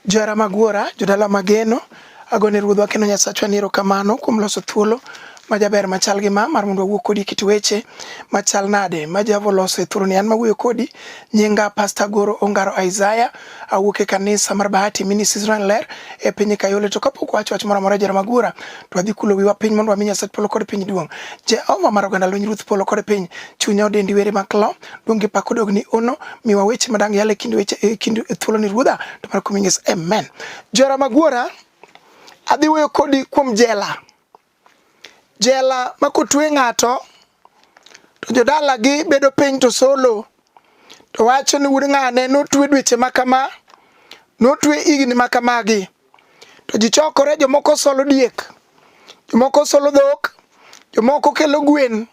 Johera mag Wuora, jodala mageno, agone Ruodhwa kendo Nyasachwa ni erokamano kuom loso thuolo ma jaber machal gi ma mar mondo wawuo kodi kit weche machal nade ma Jehova oloso e thuroni. An mawuoyo kodi nyinga Pastor Goro Ongaro Isaiah, awuok e kanisa mar Bahati Ministries Israel Ler e piny Kayole. To kapok wacho wach moro amora jara magura, to wadhi kulo wiwa piny mondo wami Nyasach polo kod piny duong'. Jehova mar oganda lweny Ruoth polo kod piny, chunya odendi were maklo, donge pak odog ni ono miwa weche madang yale kinde weche e kinde thuolo ni ruodha to mar kumingi amen jora magwora adhi weyo kodi kuom jela jela ma kotwe ng'ato to jodalagi bedo piny to solo to wacho ni wuod ng'ane notwe dweche ma kama notwe higni ma kamagi to ji chokore jomoko solo diek jomoko solo dhok jomoko kelo gwen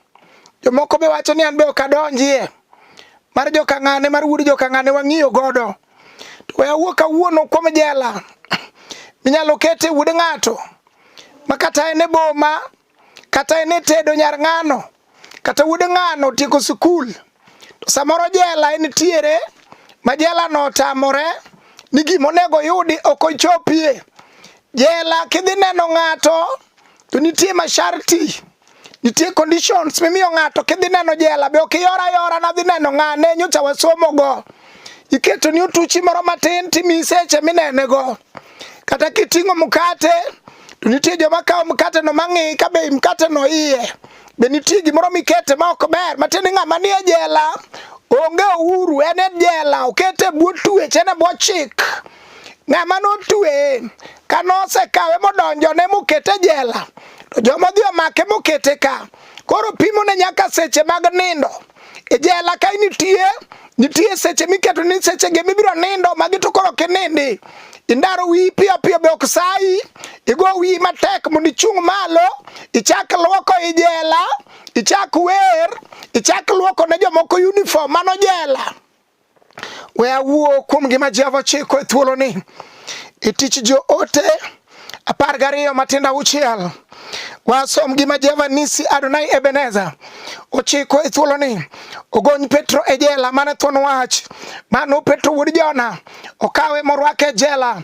jomoko be wacho ni an be ok adonjie mar jokang'ane mar wuod jokang'ane wang'iyo godo to we awuo kawuono kuom jela minyalo kete wuod ng'ato ma kata en e boma kata en e tedo nyar ng'ano kata wuod ng'ano otieko sikul to samoro jela entiere ma jelano otamore ni gima onego yudi ok ochopie jela kidhi neno ng'ato to nitie masharti nitie conditions mimiyo ng'ato kidhi neno jela be ok iyora yora nadhi neno ng'ane nyocha wasomogo iketo ni otuchi moro matin timi seche minenego kata kiting'o mkate to nitie joma kawo mkate no mang'i ka be mkate no iye be nitie gimoro mikete ma ok ber matiende ng'ama nie jela onge uhuru en e jela okete bwo tuech en e bwo chik ng'ama notweye ka nosekawe modonjone mokete jela to joma odhi omake mokete ka koro pimone nyaka seche mag nindo E jela kae nitie nitie seche miketo ni seche ge mibiro nindo magi to koro kinindi indaro wiyi piyo piyo be ok sayi igo wiyi matek mondo ichung' malo ichak lwoko i jela ichak wer ichak lwoko ne jomoko uniform mano jela We awuo kuom gima Jehova ochiko e thuoloni e tich joote apar gariyo matindo auchiel wasom gima Jehova nisi Adonai Ebeneza ochiko e thuoloni ogony Petro e jela mane thuon wach mano Petro wuod Jona okawe morwake e jela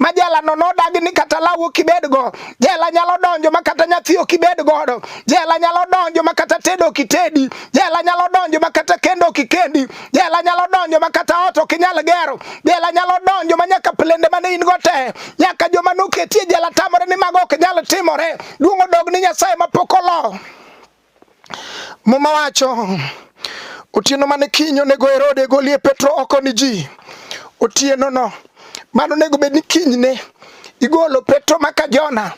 ma jelano nodagi ni kata law ok ibedgo. Jela nyalo donjo ma kata nyathi ok ibed godo. Jela nyalo donjo ma kata tedo ok itedi. Jela nyalo donjo ma kata kendo ok ikendi. Jela nyalo donjo ma kata ot ok inyal gero. Jela nyalo donjo ma nyaka plende mane in go te. Nyaka joma noketie jela tamore ni mago ok nyal timore. Duong' odog ni Nyasaye mapok olo. Muma wacho otieno mane kiny onego Herode golie Petro oko ni ji otieno no mano onego bed ni kinyne igolo Petro maka Jona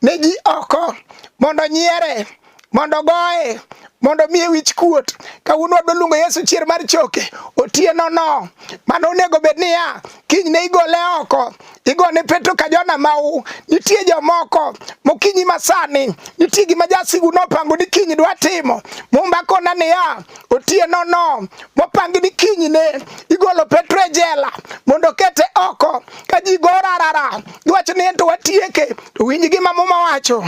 ne ji oko mondo nyiere mondo goye mondo miye wich kuot kawuono wadwa luongo Yesu chier mar choke otieno no mano onego bed niya kinyne igole oko igone Petro ka Jona mau. Nitie jomoko mokinyi masani, nitie gima jasigu nopango ni kinyi dwa timo. Mumba kona niya, otieno no mopangi ni kinyi ne igolo Petro e jela mondo kete oko ka ji gorarara giwacho ni ento watieke. To winj gima Muma wacho.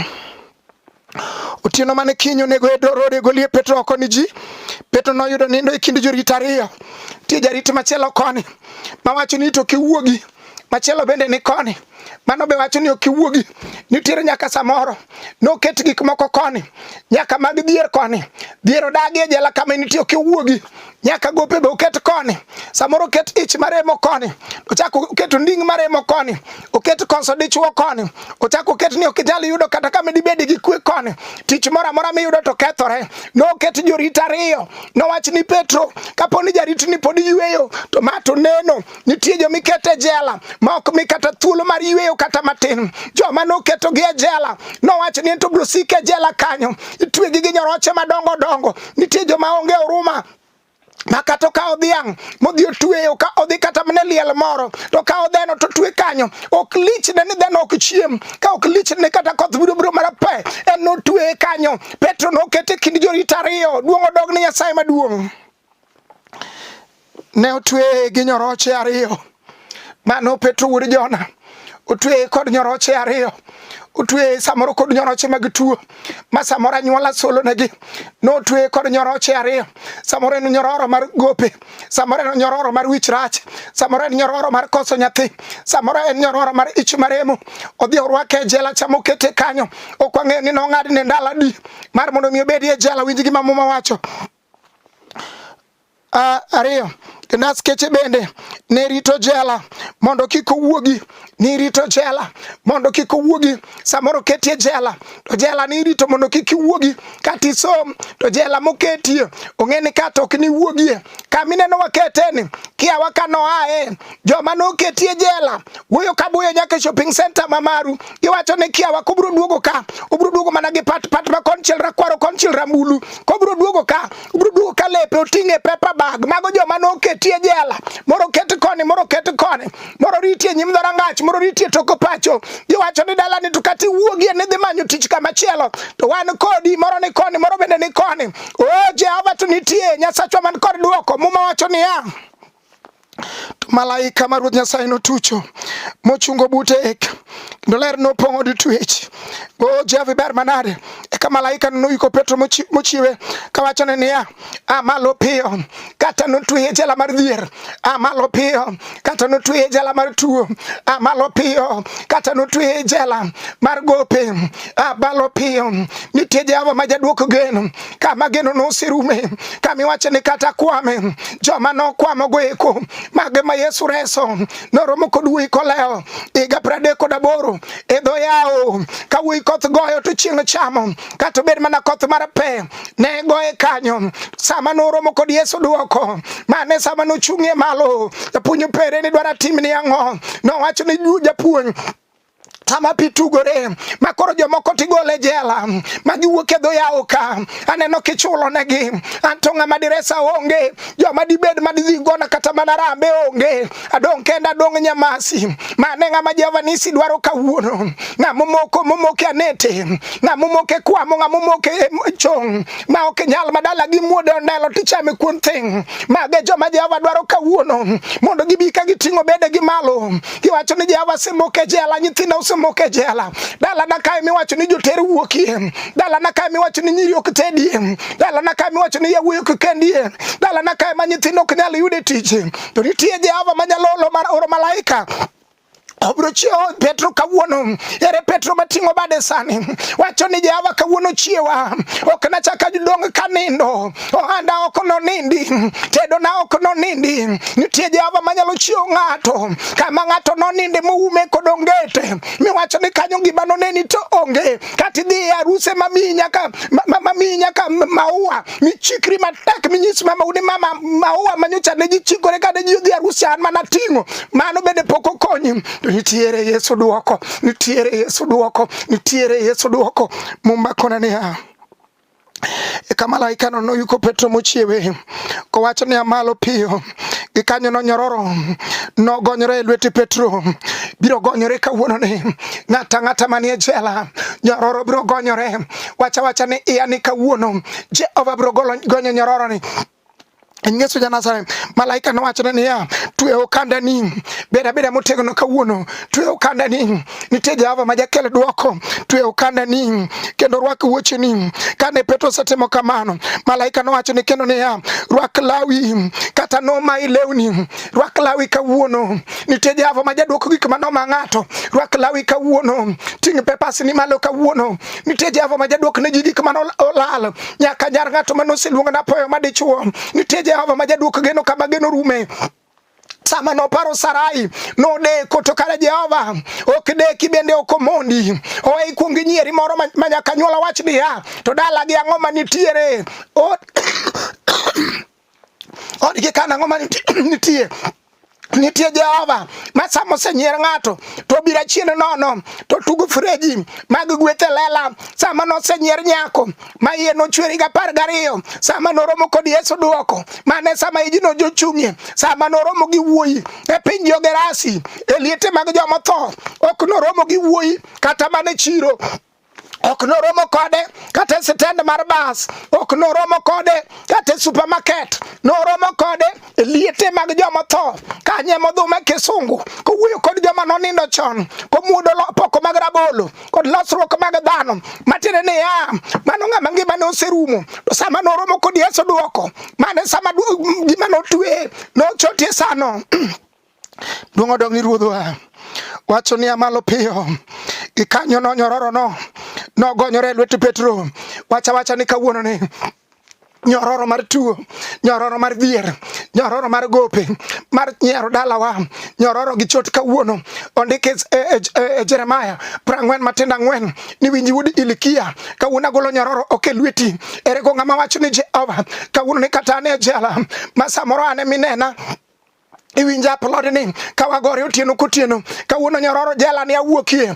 Otieno mane kiny onego e road e golie Petro oko ni ji. Petro noyudo nindo e kind jorit ariyo. Tie jarit machielo koni mawacho ni to kiwuogi machielo bende ni koni mano be wacho ni ok iwuogi nitiere nyaka samoro noket gik moko koni nyaka mag dhier koni dhier odagi e jela kama nitie ok iwuogi nyaka gope be oket koni, samoro oket ich maremo koni, ochak oket onding maremo koni, oket koso dichwo koni, ochak oket ni ok inyal yudo kata kama dibed gi kwe koni, tich moro amora miyudo to kethore. Noket jorit ariyo, nowach ni Petro, kapo ni jaritni pod yueyo to ma to neno Nitie joma iketo e jela ma ok mi kata thuolo mar yueyo kata matin. Joma noketogi e jela nowacho ni ento biro sik e jela kanyo, itwegi gi nyoroche madongo dongo. Nitie joma onge huruma ma kata okawo dhiang' modhi otweyo ka odhi kata mne liel moro to kawo dheno to twe kanyo ok lichne ni dheno ok chiem ka ok lichne kata koth biro biro mana pe en notweye kanyo petro nokete kind jorit ariyo duong' odog ni nyasaye maduong' ne otweye gi nyoroche ariyo mano Petro wuod Jona otweye kod nyoroche ariyo otweye samoro kod nyoroche mag tuo ma samoro anyuola solonegi notweye kod nyoroche ariyo samoro en nyororo mar gope samoro en nyororo mar wich rach samoro en nyororo mar koso nyathi samoro en nyororo mar ich maremo odhi orwake e jela chama okete kanyo ok wang'eyo ni nong'adne ndalo adi mar mondo mi obedi e jela winj gima muma wacho Uh, ariyo naskeche bende ne rito jela mondo kik owuogi nirito jela mondo kik owuogi samoro ketie jela to jela nirito mondo kik iwuogi kata isom to jela moketie ong'e ni kata ok niwuogie kamineno waketeni kiawa ka noae joma noketie jela wuoyo ka buyo nyaka e shopping center ma Maru giwacho ni kiawa kobro duogo ka obro duogo mana gi pat pat ma konchiel rakwaro konchiel rambulu kobro duogo ka obro duogo ka lepe oting'e paper bag mago joma noketie jela moro ket koni moro ket koni moro ritie nyim dhorangach moro ritie toko pacho giwacho ni dala ni to kati wuogie ni dhi manyo tich kama chielo to wan kodi moro ni koni moro bende ni koni o oh, Jehova to nitie nyasachwa man kod duoko muma wacho niya To malaika ma Ruoth Nyasaye notucho mochungo bute eka kendo ler nopong'o di twech o Jehovah ber manade eka malaika noyiko Petro mochiwe kawachone niya a malo piyo kata notweye jela mar dhier a malo piyo kata notweye jela mar tuo a malo piyo kata notweye jela mar gope a malo piyo nitie Jehova ma jadwoko geno kama geno noserume kama iwacho ni kata kwame joma nokwamo goeko mage ma Yesu reso noromo kod wuoyi koleo higa pradek kod aboro e dho yawo ka wuoyi koth goyo to chieng' chamo kata obed mana koth mar pe ne goye kanyo sama noromo kod Yesu duoko mane sama nochung'ie malo japuonj opere ni dwara timni ang'o nowacho ni japuonj sama pi tugore ma koro jomoko tigole jela ma giwuok e dho yawo ka aneno kichulo negi anto ng'ama diresa onge joma dibed ma didhi gona kata mana rambe onge adong' kenda adong' nyamasi mane ng'ama Jehova nisi dwaro kawuono ng'ama omoko momoke anete ng'ama omoke kwamo ng'ama omoke e chong ma ok nyal madala gi muode ondelo tichame kuon thing' mage joma Jehova dwaro kawuono mondo gibi ka giting'o bedegi malo Iwacho ni Jehova semok e jela, nyithinda osemok e jela. Dalana kae miwacho ni joter wuokie. Dalana kae miwacho ni nyiri ok tedie. Dalana kae miwacho ni yawuoyi ok kendie. Dalana kae ma nyithindo ok nyal yude tich. To nitie Jehova ma nyalo oro malaika obiro chiewo Petro kawuono. Ere Petro mating'o bade sani? Wacho ni Jehova kawuono chiewa, ok nachak adong kanindo. ohanda ok nonindi, tedona ok nonindi. Nitie Jehova manyalo chiwo ng'ato kama ng'ato noninde moume kod ongete miwacho ni kanyo gima noneni to onge kata idhi e aruse mamiyi nyaka mamiyi nyaka maua michikri matek minyis mama uni mama maua manyocha ne ji chikore kane ji odhi aruse an mana ting'o mano bende pok okonyi nitiere Yesu duoko nitiere Yesu duoko nitiere Yesu duoko mumba kona niya Eka malaikano noyuko Petro mochiewe kowacho niya, malo piyo. Gikanyo nonyororo, nogonyore e lwete Petro. Biro gonyore kawuononi, ng'ata ng'ata manie jela, nyororo biro gonyore. Wacha wacha ni iya ni kawuono, Jehova biro gonyo nyororoni. Yesu Janasare, malaika nowachone niya, twe okandani, bed abeda motegno kawuono, twe okandani, nitie Jehova ma jakel dwoko, twe okandani kendo rwak wuocheni. Kane Petro osetimo kamano, malaika nowachone kendo niya, rwak lawi kata nomayi lewni, rwak lawi kawuono, nitie Jehova ma jadwoko gik ma noma ng'ato, rwak lawi kawuono, ting' pepasni malo kawuono, nitie Jehova ma jadwok ne ji gik ma nolal nyaka nyar ng'ato mane oseluonga napoyo madichuo nitie jehova ma jaduok geno kama geno rume sama noparo Sarai nodeko to kare Jehova ok deki bende ok omondi owe ikuong inyieri moro ma nyaka nyuola wach niya to dalagi ang'o manitiere Odgi kana ngoma nitie nitie Jehova ma sama osenyier ng'ato to obiro achien nono to tugo freji mag gwethe lela sama nosenyier nyako ma iye nochwer higa apar gariyo sama noromo kod Yesu dwoko mane sama ijino jochung'ie sama noromo gi wuoyi e piny Jogerasi e liete mag jomotho ok noromo gi wuoyi kata mana chiro ok noromo kode kata e sitend mar bas ok noromo kode kata e supermarket noromo kode e liete mag joma tho kanye modhume kisungu kowuoyo kod joma nonindo chon komuodo poko mag rabolo kod losruok mag dhano matiende niya mano ng'ama ngimane oserumo to sama noromo kod yesu dwoko mane sama gima notweye nochotie sano Duong' odong' ni ruodhwa. Wacho niya malo piyo. Gikanyo no nyororo no. Nogonyore lwet Petro. Wacha wacha ni kawuono ni nyororo mar tuo nyororo mar dhier nyororo mar gope mar nyiero dalawa nyororo gi chot kawuono ondike e, e, e, e jeremaya prang'wen matindo ang'wen ni winji wuod ilikia kawuono agolo nyororo ok e lweti erego ng'ama wacho ni jehova kawuono ni kata ane jela ma samoro ane minena iwinja aplod ni ka wagore otieno kotieno kawuono nyororo jela ni awuokie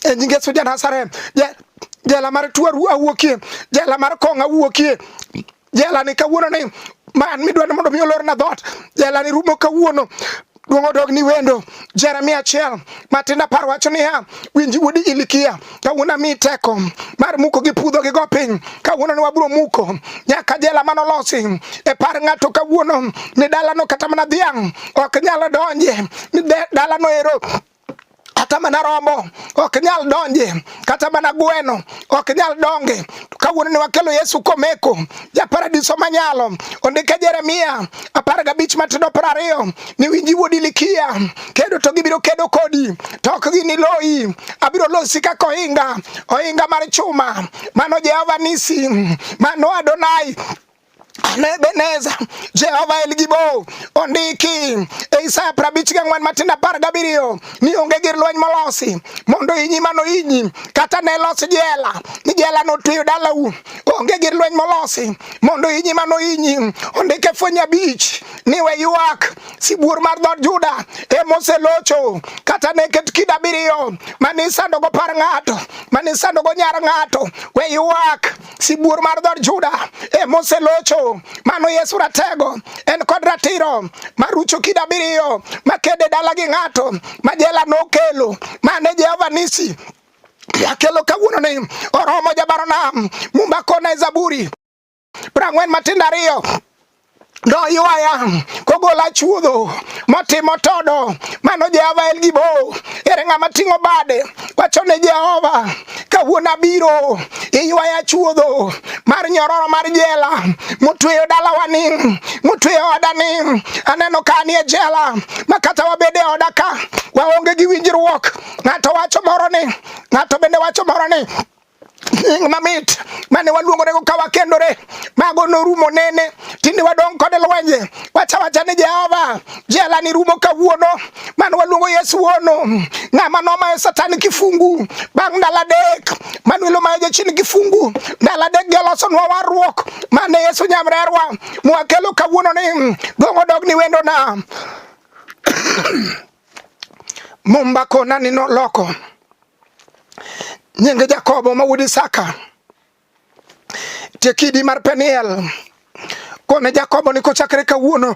e nyinge suja nasare jela mar tuaru awuokie jela mar kong awuokie jela ni kawuono ni man midwa ni mondo mi olorna dhoot jela ni rumo kawuono duong' odog ni wendo jeremia achiel matin apar wacho niya winji wuodi ilikia kawuono ami teko mar muko gi pudho gi go piny kawuono ne wabro muko nyaka jela mano losi e par ng'ato kawuono ni dalano kata mana dhiang' ok nyalo donje ni dalano ero kata mana rombo ok nyal donje kata mana gweno ok nyal donge to kawuono ne wakelo Yesu komeko ja paradiso manyalo ondike Jeremia apar gabich matindo piero ariyo ni winji wuodi likia kedo to gibiro kedo kodi to ok giniloyi abiro losi kaka ohinga ohinga mar chuma mano Jehova nisi mano Adonai Nebeneza Jehova El Gibo ondiki e Isaya prabich gi ang'wen matindo apar gabiriyo ni onge gir lweny molosi mondo inyi mano inyi kata ne los jela ni jela notweyo dalau onge gir lweny molosi mondo inyi mano inyi ondike fweny abich ni we ywak sibuor mar dhood Juda e moselocho kata ne ket kido abiriyo mane isandogo par ng'ato mane isandogo nyar ng'ato we ywak sibuor mar dhood Juda e moselocho. Mano Yesu Ratego en kod ratiro marucho kid abiriyo makede dala gi ng'ato ma jela nokelo mane Jehova Nisi akelo kawuono ni oromo jabaronam mumba kona e Zaburi prang'wen matindo ariyo noywaya kogola chuodho motimo todo mano jehova en gi bo ere ng'ama ting'o bade wacho ne jehova kawuono abiro iywaya chuodho mar nyororo mar jela motweyo dalawa ni motweyo oda ni aneno ka anie jela ma kata wabede oda ka waonge gi winjruok ng'ato wacho moro ni ng'ato bende wacho moro ni nying mamit mane waluongorego ka wakendore mago norumo nene tinde wadong' kode lwenje wacha wacha ni jehova jela ni rumo kawuono mane waluongo yesu wuono ng'ama nomayo satan kifungu bang' ndalo adek manuel omayo jachien kifungu ndalo adek gi olosonwa warruok mane yesu nyamrerwa mwakelo kawuono ni dong' odog ni wendona Mumba kona ni noloko nyinge Jakobo ma wuod Isaka tekidi mar Peniel kone Jakobo ni kochakre kawuono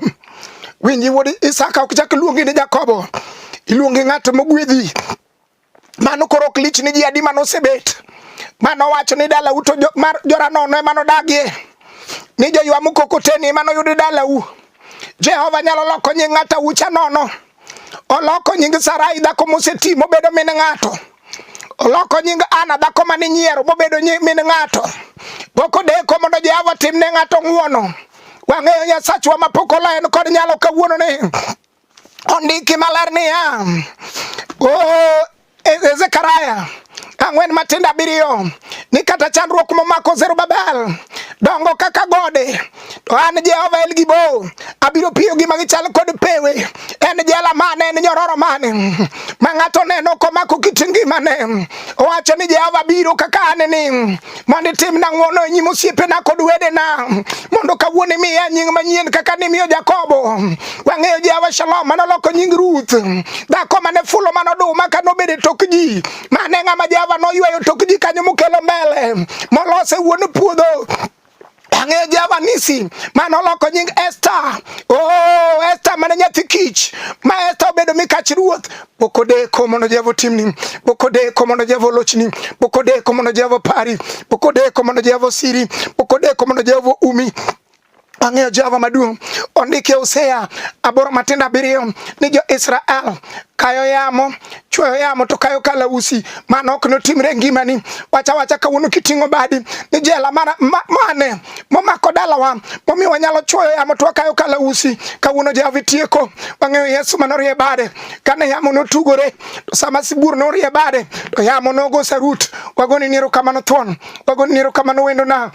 winji wuod Isaka ok chak luongi ni Jakobo iluongi ng'at mogwedhi Mano koro ok lich ni ji adi mano osebet. Mano wacho ni dala uto jo, mar joranono emano dagie. Ni jo ywa mukokoteni emano yudi dala u. Jehova nyalo loko nying ng'ata ucha nono. Oloko nying Sarai dhako moseti mobedo min ng'ato. Oloko nying Ana dhako mane nyiero mobedo nyi- min ng'ato. Boko deko mondo Jehova timne ng'ato ng'uono. Wang'eyo Nyasachwa mapok olaen kod nyalo kawuono ni Ondiki maler niya, o e, e, Zekaria ang'wen matindo abiriyo ni kata chandruok momako Zerubabel dongo kaka gode to an Jehova El Gibo abiro piyo gi magichal kod pewe en jela mane en nyororo mane ma ng'ato neno komako kit ngimane owacho ni Jehova biro kaka aneni mondo itimna ng'wono e nyim osiepena kod wedena mondo kawuono imiya nying manyien kaka nimiyo Jakobo. Wang'eyo Jehova Shalom mane oloko nying Ruth, dhako mane fulo mane oduma ka nobedo e tok ji, mane ng'ama Jehova noyweyo tok ji kanyo mokelo mbele molose wuon puodho Ang'eyo Jehova Nisi ma noloko nying Esta. Oh, Esta mane nyathi kich ma Esta obedo mikach ruoth. Pok odeko mondo Jehova otimni, pok odeko mondo Jehova olochni, pok odeko mondo Jehova opari, pok odeko mondo Jehova osiri, pok odeko mondo Jehova umi ang'eyo Jehova maduong' ondike Hosea aboro matindo abiriyo ni jo-Israel kayo yamo chweyo yamo to kayo kalausi mano ok notimre ngimani wacha wacha kawuono kiting'o badi ni jela mana, ma, mane momako dalawa momiyo wanyalo chwoyo yamo to wakayo kalausi kawuono jehova itieko wang'eyo yesu mano rie bade kane yamo notugore to sama sibuor norie bade to yamo nogo sarut wagoni niero kamano thuon wagoni niero kamano wendona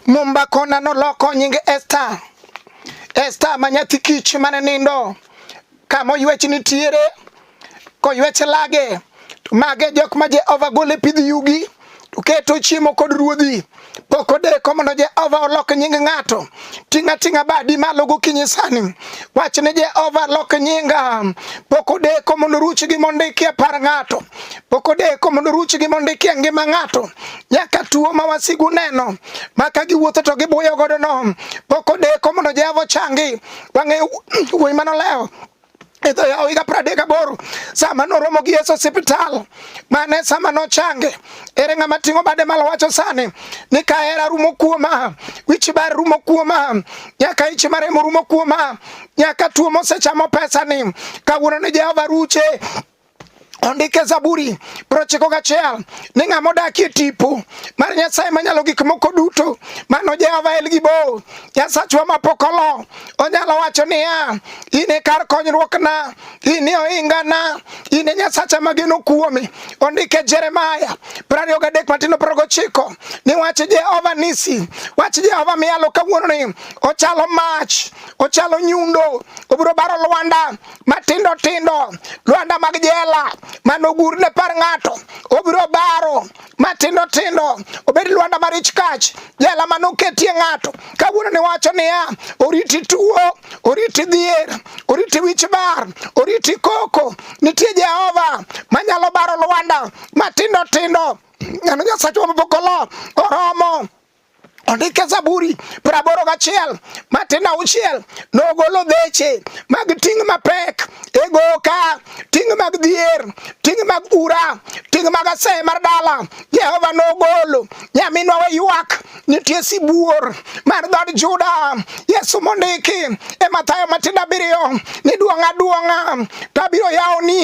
mumba kona noloko nyinge esta esta ma nyathi kich mane nindo kama oywech nitiere koywech lage to mage jok ma Jehova gole pidh yugi to keto chiemo kod ruodhi pok odeko mondo Jehova olok nying ng'ato ting'a ting'a badi malo gokinyi sani wach ni Jehova lok nyinga pok odeko mondo ruch gi mondo ikie par ng'ato pok odeko mondo ruch gi mondo ikie ngima ng'ato nyaka tuo ma wasigu neno maka giwuotho to gibuyo godo no pok odeko mondo Jehova changi Wang'eyo wuoyi mane olewo e dho yawo higa pradek aboro sama noromo gi Yesu osiptal mane sama nochange ere ng'ama ting'o bade malo wacho sani ni ka hera rumo kuoma wich bar rumo kuoma nyaka ich maremo rumo kuoma nyaka tuo mosechamo pesa ni kawuono ni Jehova ruche ondike Zaburi prochiko gachiel ni ng'a modakie tipo mar Nyasaye manyalo gik moko duto mano Jehova El Gibo Nyasachwa mapok olo onyalo wacho niya in e kar konyruokna in e ohingana in e Nyasacha mageno kuome ondike Jeremaya prariyo gadek matindo prariyo gochiko ni wach Jehova nisi wach Jehova miyalo kawuononi ochalo mach ochalo nyundo obiro baro lwanda matindo tindo lwanda mag jela manogur ne par ng'ato obiro baro matindo tindo obed lwanda mar ich kach jela manoketie ng'ato kawuono ni wacho niya oriti tuo oriti dhier oriti wich bar oriti koko nitie jehova manyalo baro lwanda matindo tindo neno nyasachwa mabokolo oromo Ondike Zaburi praboro gachiel matin auchiel nogolo dheche mag ting' mapek e goka ting' mag dhier ting' mag ura ting' mag aseye mar dala Jehova nogolo nyaminwa we ywak nitie sibuor mar dhod Juda Yesu mondiki e Mathayo matindo abiriyo ni duong'a duong'a to abiro yawoni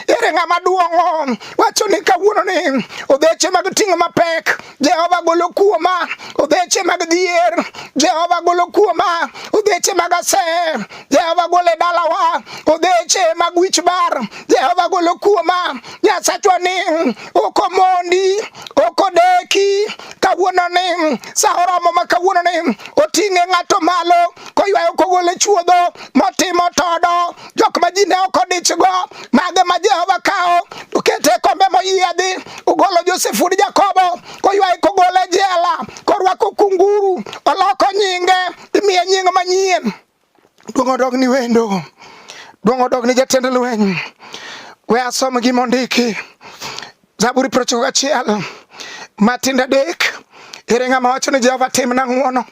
ere ng'ama duong'o wacho ni kawuononi odheche mag ting' mapek Jehova golo kuoma obeche mag dhier, Jehova golo kuoma obeche mag asee, Jehova golo e dalawa obeche mag wich bar, Jehova golo kuoma Nyasachwa ni ok omondi, ok odeki kawuono ni sa oromo ma kawuono ni oting'e ng'ato malo koywayo kogole chuodho motimo todo jok ma ji ne ok odichgo mage ma Jehova kawo okete e kombe moyiedhi ogolo Josef wuod Jakobo koywaye kogole e jela korwako kunguru oloko nyinge imiye nying manyien duong' odog ni wendo duong' odog ni jatend lweny we asom gimondiki Zaburi piero ochiko gachiel matindo adek. Ere ng'ama wacho ni Jehova timna ng'wono?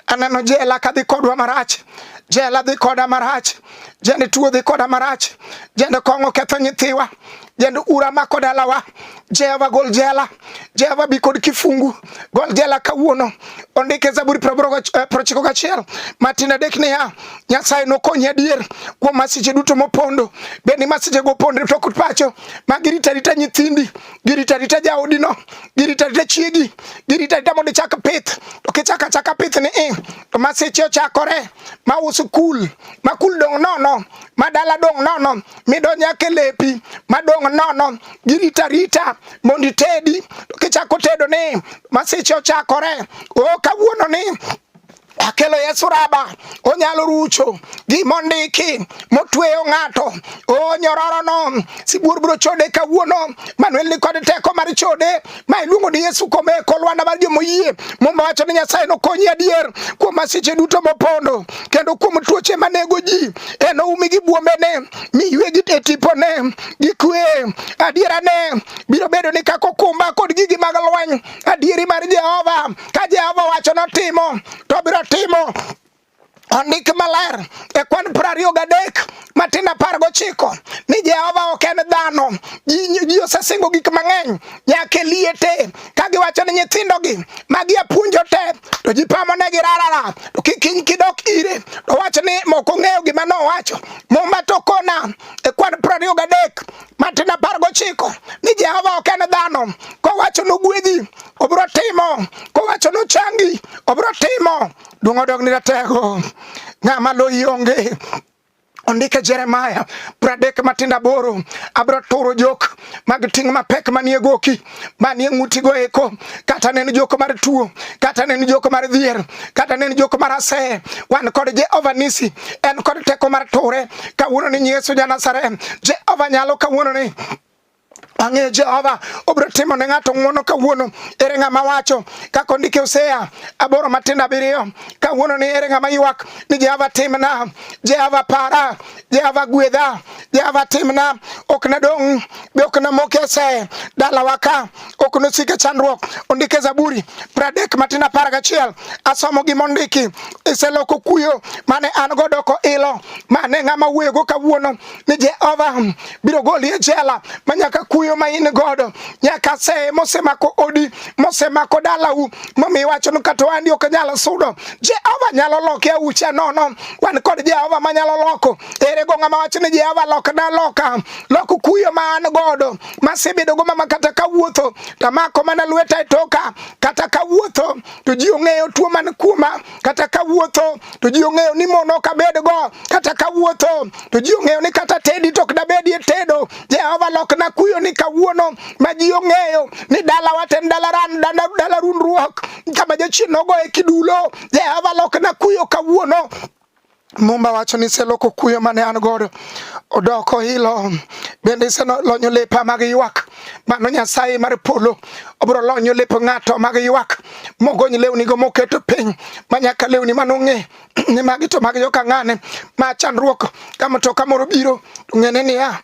Aneno jela kadhi kodwa marach, jela dhi koda marach, jende tuo dhi koda marach, jende kong'o ketho nyithiwa, jende ura mako dalawa. Jehova gol jela, Jehova bi kod kifungu, gol jela kawuono ondike Zaburi eh, prochiko gachiel matin adek niya, Nyasaye nokonyi adier kuom masiche duto mopondo. Bed ni masichego opondre to kod pacho ma giritarita nyithindi, giritarita jaodino, giritarita chiegi, giritarita mondo ichak pith. To kichako achaka pith ni i, eh, to masiche ochakore ma usikul, ma kul dong' nono, ma dala dong' nono, midonyo ake lepi, ma dong' nono, giritarita mondo itedi kichako tedo ni masiche ochakore o kawuono ni akelo Yesu raba onyalo rucho gima ondiki motweyo ng'ato o nyororono sibuor biro chode kawuono manuel ni kod teko mar chode ma iluongo ni Yesu komeko lwanda mar jomoyie muma wacho ni Nyasaye nokonyi adier kuom masiche duto mopondo kendo kuom tuoche manego ji enoumi gi buombene mi yuegi e tipone gi kwe. Adierane biro bedo ni kaka okumba kod gigi mag lweny, adieri mar Jehova ka Jehova wacho notimo to biro timo ondik maler e kwan piero ariyo gadek matin apar gochiko ni Jehova ok en dhano. Ji osesingo gik mang'eny nyaka e liete ka giwacho ni nyithindogi ma giapuonjo te to ji pamonegi rarara to kiny kidok ire to wach ni moko ng'eyo gima nowacho muma to kona e kwan prariyo gadek matin apar gochiko ni jehova ok en dhano kowacho nogwedhi obiro timo kowacho nochangi obiro timo duong' odog ni ratego ng'ama loyi onge Ondike Jeremaya pradek matindo aboro abro turo jok mag ting' mapek manie goki manie ng'utigo eko kata nen jok mar tuo kata nen jok mar dhier kata nen jok mar aseye wan kod Jehova nisi en kod teko mar ture kawuono ni Yesu ja Nazareth Jehova nyalo kawuono ni Ang'eyo Jehova obiro timo ne ng'ato ng'wono kawuono. Ere ng'ama wacho kaka ondike Hosea aboro matindo abiriyo kawuono ni ere ng'ama ywak ni Jehova timna, Jehova para, Jehova gwedha, Jehova timna. Ok nadong' be ok namok ese dalawa ka ok nosik e chandruok. Ondike Zaburi pradek matindo apar gachiel asomo gima ondiki iseloko kuyo mane an go doko ilo mane ng'ama wuoyogo kawuono ni Jehova biro goli e jela ma nyaka kuyo ma in godo nyaka seye mosemako odi mosemako dalau momiyo iwacho ni kata wandi ok nyal sudo Jehova nyalo loke aucha nono wan kod Jehova ma nyalo loko ere go ng'ama wacho ni Jehova lok na loka loko kuyo ma an godo masebedo go mama kata kawuotho tamako mana lweta e toka kata kawuotho to ji ong'eyo tuo man kuoma kata kawuotho to ji ong'eyo ni mon ok abedgo, kata kawuotho to ji ong'eyo ni kata tedi to ok dabedie tedo. Jehova lokna kuyo ni kawuono ma ji ong'eyo ni dalawa to en dalaran dala rundruok kama jachien nogoye kidulo. Jehova lokna kuyo kawuono Mumba wacho ni iseloko kuyo mane an godo odoko hilo bende iselonyo lepa mag ywak mano nyasaye mar polo obiro lonyo lep ng'ato mag ywak mogony lewni go moketo piny manyaka lewni mano ng'e ni magi to mag joka ng'ane ma chandruok ka mtoka moro biro ng'ene niya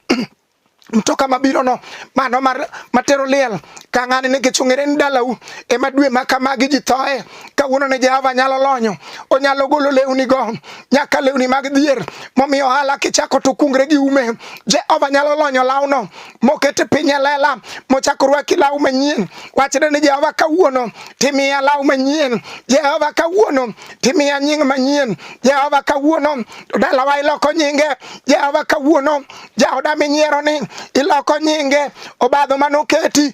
mtoka mabirono mano mar matero liel ka ng'ani nikech ong'ere ni dalau ema dwe ma kamagi ji thoe kawuono ne Jehova nyalo lonyo onyalo golo lewni go nyaka lewni mag dhier momiyo ohala kichako to kungre gi ume Jehova nyalo lonyo lawno mokete piny e lela mochako rwaki law manyien wachne ni Jehova kawuono timiya law manyien Jehova kawuono timiya nying manyien Jehova kawuono dalawa iloko nyinge Jehova kawuono jaoda minyiero ni iloko nyinge obadho manoketi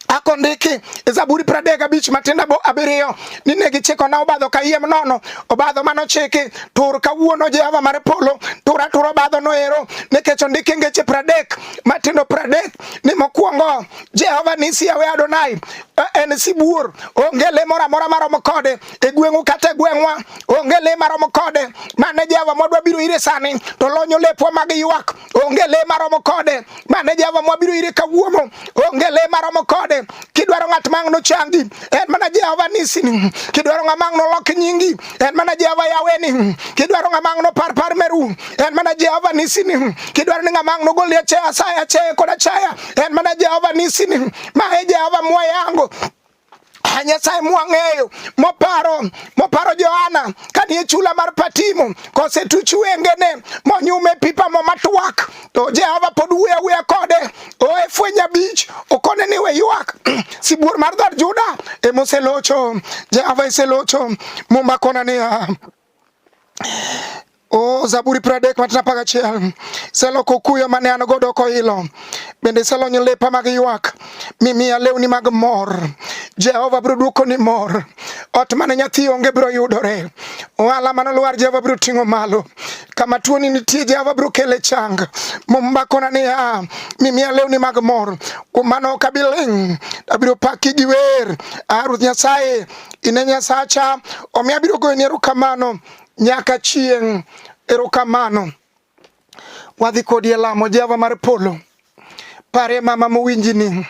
akondiki e zaburi pradek abich matinda bo abiriyo ni ne gichiko na obadho kayiem nono obadho mano chiki tur kawuono jehova mar polo tur atur obadho noero nikech ondiki ngeche pradek matindo pradek ni mokwongo jehova nisi yawe adonai e, en sibuor onge le moro amora maromo kode e gweng'u kata e gweng'wa onge le maromo kode mane Jehova mwadwa biro ire sani to lonyo lepwa mag ywak onge le maromo kode mane Jehova mwabiro ire kawuono onge le maromo kode kidwaro ng'at ma ang' nochangi en mana Jehova nisini kidwaro ng'ama ang' nolok nyingi en mana Jehova yaweni kidwaro ng'ama ang' nopar par meru en mana Jehova nisini kidwaro ni ng'ama ang' nogol achaya asaya achaya kod achaya en mana Jehova nisini ma e Jehova mwayango Nyasaye mwang'eyo moparo moparo Johana kanie chula mar Patimo kosetuch wengene monyume pipa mo matwak to Jehova pod wuoyo awuoya kode oe fweny abich okone ni we ywak sibuor mar dhood Juda emoselocho Jehova eselocho mumba kona niya O Zaburi pradek wach apar gachiel seloko kuyo mane an godo koilo bende iselonyo lepa mag ywak mimiya lewni mag mor jehova biro dwoko ni mor ot mane nyathi onge biro yudore ohala mane olwar jehova biro ting'o malo kama tuoni nitie jehova biro kele chang mombakona niya mimiya lewni mag mor kuom mano ok abi ling' abiro paki gi wer a ruoth nyasaye ine nyasacha omiyo abiro goyoni erokamano nyaka chieng' erokamano wadhi kodi e lamo jehova mar polo pare mama mowinjini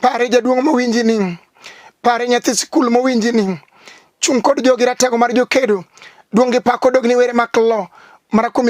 pare jaduong' mowinjini pare nyathi sikul mowinjini chung' kod jogi ratego mar jokedo duong' gi pak odogni were mak lo mara kuom